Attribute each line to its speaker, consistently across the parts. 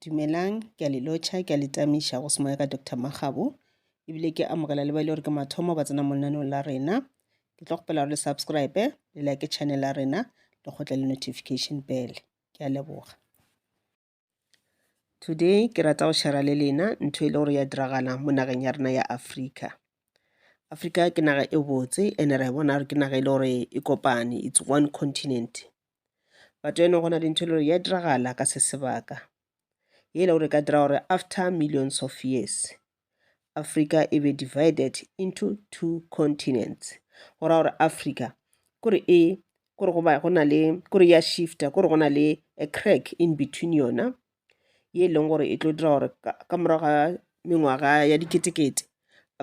Speaker 1: Dumelang, ke a le lotšha, ke a le tamiša go semoya ka Doctor Makgabo, ebile ke amogela le ba e le gore ke mathomo ba tsena mo lenaneong la rena. Ke tlo kgopela gore le subscribe, le like channel ya rena, le kgotle le notification bell. Ke a leboga. Today ke rata go share le lena ntho e le gore ya diragala mo nageng ya rena ya Africa. Africa ke naga e botse ene re bona gore ke naga e le gore e kopane, it's one continent. but eno gona dintho e le gore ya diragala ka se sebaka ye e le gore ka dira gore after millions of years africa e be divided into two continents go ra gore africa kore e kore go ba go na le kore ya shifta kore go na le a crack in between yona ye e leng gore e tlo dira gore ka morago ga mengwaga ya diketekete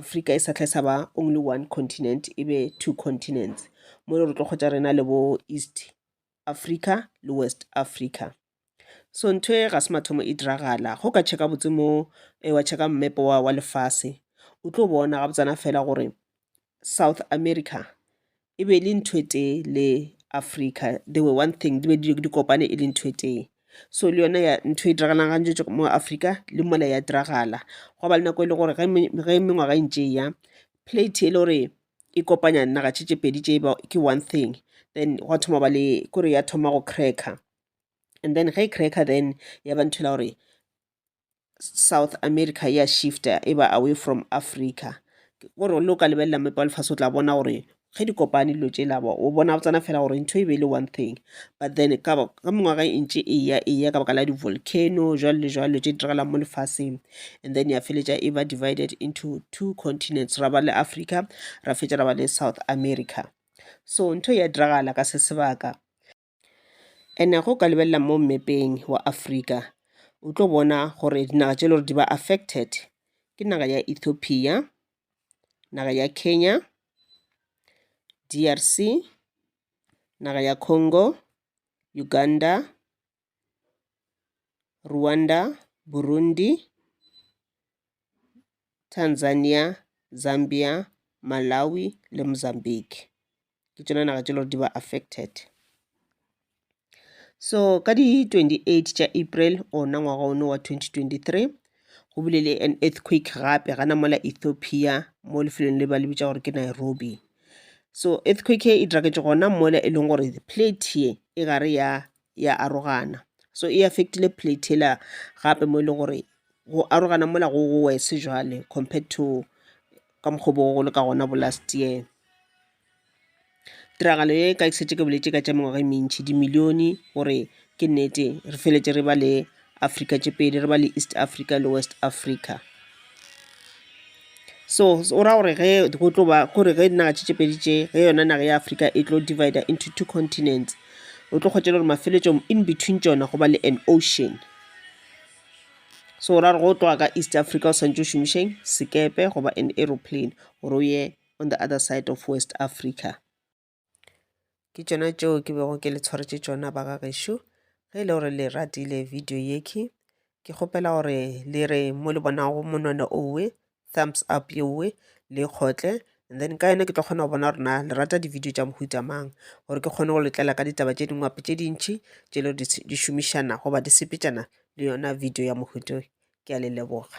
Speaker 1: afrika e sa tlhe sa ba only one continent e be two continents mo e le gore tlo kgotsa rena le bo east africa le west africa so ntho e ga se mathomo e diragala go ka check-a botse mo e wa check-a mmepe wa wa lefase o tlo bona ga botsana fela gore South America e be e le ntho e tee le Africa they were one thing di be di kopane e le ntho e tee. So le yona ya ntho e diragalang gantši tše mo Africa le mola ya diragala gwa ba le nako e le gore ge mengwaga e ntše e ya plate e le gore e kopanya naga tše tše pedi tše ke one thing then gwa thoma ba le kore ya thoma go cracker and then ge e cracker then ya ba ntho e le gore south america ya shifta e ba away from africa gore le o ka lebelela mepa wa lefase o tla bona gore ge di kopane dilo tše labo o bona tsena fela gore ntho e be e le one thing but then ka mengwaga e ntše e ya e ya ka baka la di-volcano jwalo le jwalo tše di diragalang mo lefaseng and then ya feletša e ba divided into two continents ra ba le africa ra fetša ra ba le south america so ntho e ya diragala ka se sebaka And-e ge o ka lebelela mo mmepeng wa Afrika, o tlo bona gore dinaga tše e le gore di ba affected ke naga ya Ethiopia, naga ya Kenya, D_R_C, naga ya Congo, Uganda, Rwanda, Burundi. Tanzania, Zambia, Malawi le Mozambique. Ke tšona naga tše le gore di ba affected. So ka di 28 tša April ona ngwaga ono wa 2023 go bile le an earthquake gape gana mola Ethiopia mo lefelong le ba le bitša gore ke Nairobi. So earthquake e diraketše gona mola e leng gore plate ye e gare ya ya arogana so e affectile plate ela gape mo e leng gore go arogana mola go go wese jwale compared to ka mokgwa bo go le ka gona bo last year tiragalo ye ka ke setse ke boletse ka tša mengwaga e mentši dimilione gore ke nnete re feletse re ba le Afrika tše pedi re ba le East Africa le West Africa. So o ra gore ge go tlo ba gore ge dinaga tše tše pedi tše ge yona naga ya Afrika e tlo divider into two continents o tlo kgotša le gore mafeletšong in between tšona go ba le an ocean. So o ra gore go tloga ka East Africa o santše o šomišeng sekepe goba an aeroplane gore o ye on the other side of West Africa. ke tšona tšeo ke bego ke le tshwaretše tšona ba ga gešo ge e le gore le ratile video yeke ke kgopela gore le re mo le bonago monwana owe thumbs up yeowe le kgotle and then ka yona ke tlo kgona go bona rena le rata di-video tša mohuta mang gore ke kgone go letlela ka ditaba tše dingwape tše dintšhi tše le di šomišana goba di sepetšana le yona video ya mohuto ke a le leboga